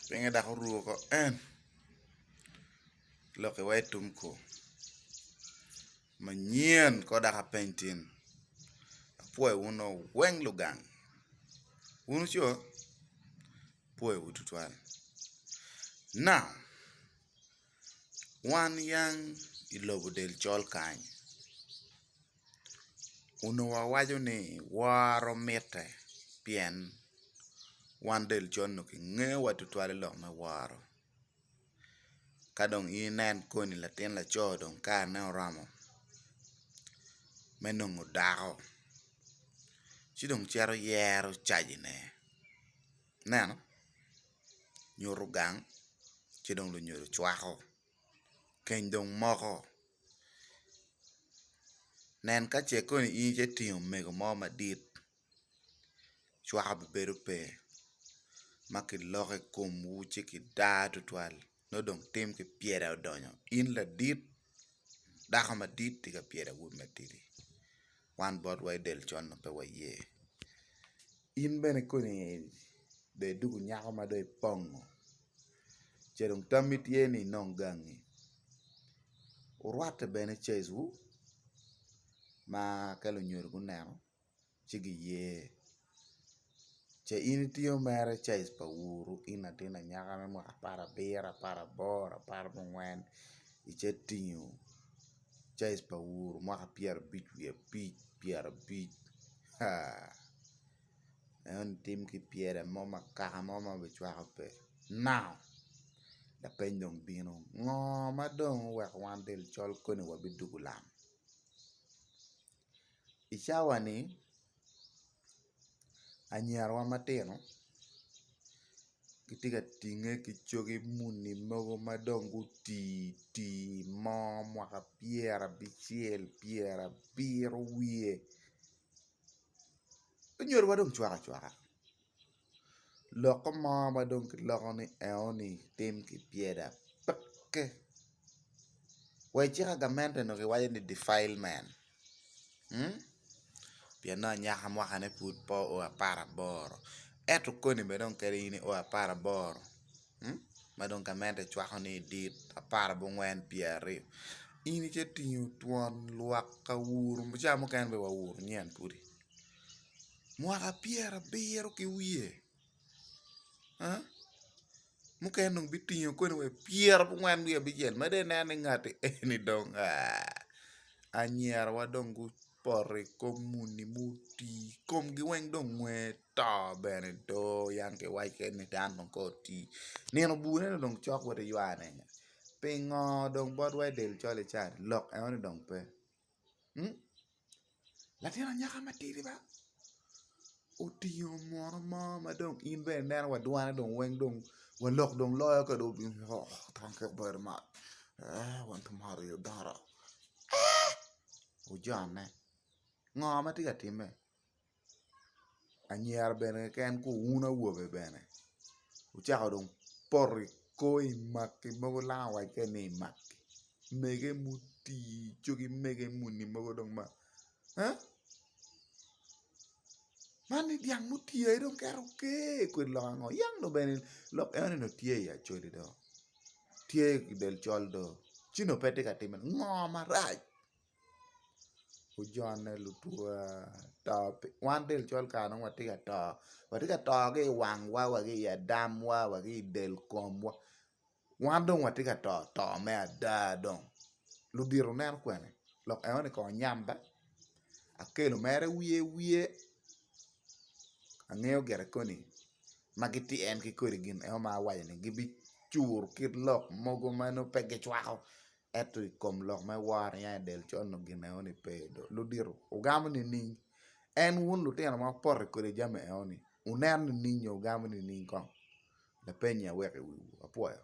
Pinge dok oruko ko en lok iwa i tum ko manyen ko dok apeny tin apwoyo wun oo weng lugang wun co apwoyowu tutwal na wan yang ilobo del col kany Onongo wawaco ni woro mitte pien wan del col onongo kingeyo wa tutwal ilok me woro ka dong in inen koni latin laco dong karne oromo me nongo dako ci dong cito yero cajine ineno nyuto gang ci dong lunyodo cwako. keny dong moko nen ka ce koni in icito tingo omego mo madit cwaka bi bedo pe ma kiloko i komwu ci kidar tutwal nongo dong tim ki pyera odonyo in ladit dako madit tika pyera awobi matidi. wan bot wa i del con ma pe waye. In bene koni dong idoko nyako ma dong ipongo ce dong tammi tye ni inong gangi wurwatte bene caic wu ma ka lunyodo guneno ci giye. Ce in itiyo mere caic pa ur in latin anyaka me mwaka apar abiro, apar aboro, apar mungwen ice tingo caic pa ur mwaka pyera abic wiye abic pyera abic haa eno ni tim ki pyere mo ma kaka mo ma bi cwako pe now lapeny dong bino ngo ma dong oweko wan del col koni wa bidugu lam. I cawani anyirawa matino gitye ka tinge ki cogi muni mogo ma dong guti ti mo mwaka pyerabicel pyerabiro wiye onyodowa dong cwaka cwaka. Lokke mo ma dong kiloko ni eoni tim ki pyere ape wa i cik agamente onongo kiwaco ni defilement pien nongo anyaka mwakane pud pe oo apar aboro ento koni bene dong kadi in io apar aboro ma dong gamente cwako ni dit apar abongwen pyeraryo in ite tingo twon lwak awuru ca mukene bene wa awuru nyen pudi. mwaka pyerabiro ki wiye mukene dong bitingo kene wa pyerabongwen wiye abicel mada inen ni ngati eni dong anyirawa dong gupoto i kom muni ma oti komgi weng dong nge to bene do yam kiwaco kene ni dano dong kong oti nino bur ento dong cok woti ywane pingo dong botwa i del col-li cani lok enoni dong pe Latin anyaka matidi ba otingo munu mo ma dong in bene ineno wa dwane dong weng dong wa lok dong loyo ka dong obino woko oh thank you very much eeh wan ki mot i odoro eeh ojanne ngo ma tye ka timme. anyira bene keken ki wun awobe bene wucako dong poto i kor i maki mogo langa wac kene ni imaki mege muti cogi mege muni mogo dong ma eeh man ni dyang muti aye dong kero ker kwede lok ango yam dong bene lok enoni dong tye i acholi do tye i del col do ci dong pe tye ka timone ngo marac. gujone lutwa to wan del col kare nongo watye ka to watye ka to ki i wangwa wa ki i adamwa wa ki i del komwa wan dong watye ka to to me ada dong ludito neno kwene lok enoni kong onyamba akelo mere wiye wiye angeyo gire koni ma gitye en ki kodi gin eno ma awaco-ni gibicur ki lok mogo ma nongo pe gicwako. Ento i kom lok ma iworo niang i del col-nu gin enoni pe i do ludito. Wugamo nining? En wun lutino ma wupoto kwede jami enoni, wuneno nining nyo wugamo nining kong? Lapenyi aweko i wiwu. Apwoyo.